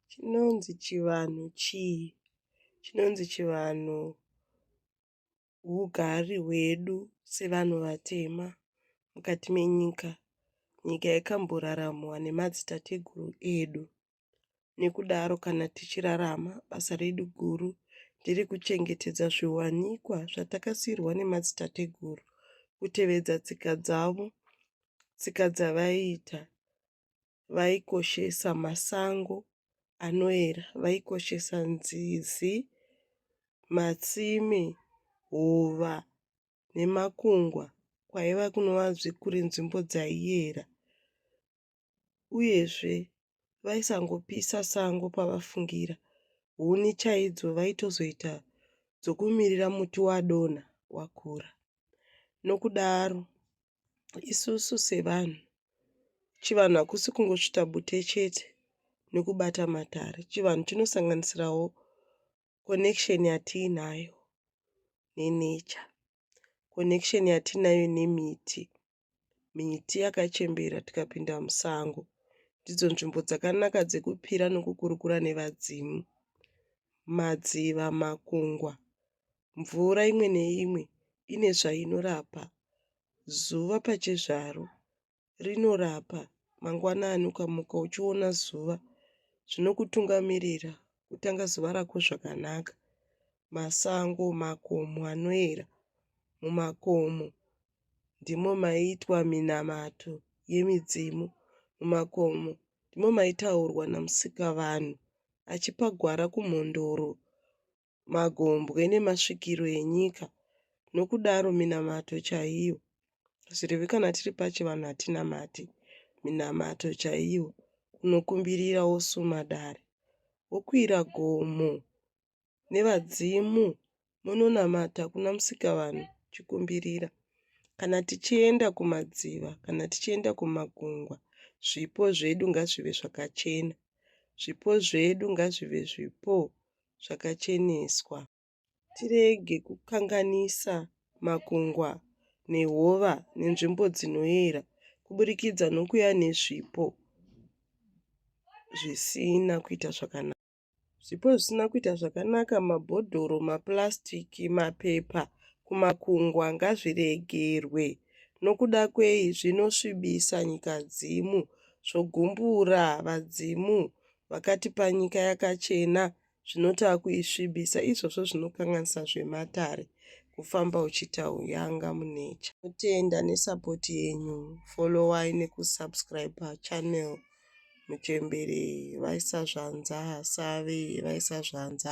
Chinonzi chivanhu chii? Chinonzi chivanhu hugari hwedu sevanhu vatema mukati menyika. Nyika yakamboraramwa nemadzitateguru edu nekudaro kana tichirarama basa redu guru ndere kuchengetedza zviwanikwa zvatakasiirwa nemadzitateguru, kutevedza tsika dzavo, tsika dzavaiita vaikoshesa masango anoera, vaikoshesa nzizi, matsime, hova nemakungwa kwaiva kunova kuri nzvimbo dzaiera uyezve vaisangopisa sango pavafungira huni chaidzo vaitozoita dzokumirira muti wadonha wakura nokudaro isusu sevanhu chivanhu hakusi kungosvita bute chete nekubata matare chivanhu chinosanganisirawo connection yatiinayo nenature connection yatiinayo nemiti miti yakachembera tikapinda musango ndidzo nzvimbo dzakanaka dzekupira nokukurukura nevadzimu madziva makungwa Mvura imwe neimwe ine zvainorapa. Zuva pachezvaro rinorapa. Mangwanani ukamuka uchiona zuva zvinokutungamirira kutanga zuva rako zvakanaka. Masango, makomo anoera. Mumakomo ndimo maiitwa minamato yemidzimu. Mumakomo ndimo maitaurwa naMusikavanhu achipa gwara kumhondoro magombwe nemasvikiro enyika nokudaro minamato chaiyo zvirevi kana tiri pachivanhu hatinamati minamato chaiyo unokumbirira wosuma dare wokwira gomo nevadzimu munonamata kuna musikavanhu chikumbirira kana tichienda kumadziva kana tichienda kumagungwa zvipo zvedu ngazvive zvakachena zvipo zvedu ngazvive zvipo zvakacheneswa. Ngatirege kukanganisa makungwa nehova nenzvimbo dzinoera kuburikidza nokuya nezvipo zvisina kuita zvakanaka. Zvipo zvisina kuita zvakanaka, mabhodhoro, mapurasitiki, mapepa kumakungwa ngazviregerwe. Nokuda kwei? Zvinosvibisa nyikadzimu zvogumbura vadzimu vakatipa nyika yakachena zvinotava kuisvibisa izvozvo zvinokanganisa zvematare kufamba uchitauyanga munecha kutenda nesapoti yenyu followai nekusubscribe channel muchembere vaisazvanza save vaisazvanza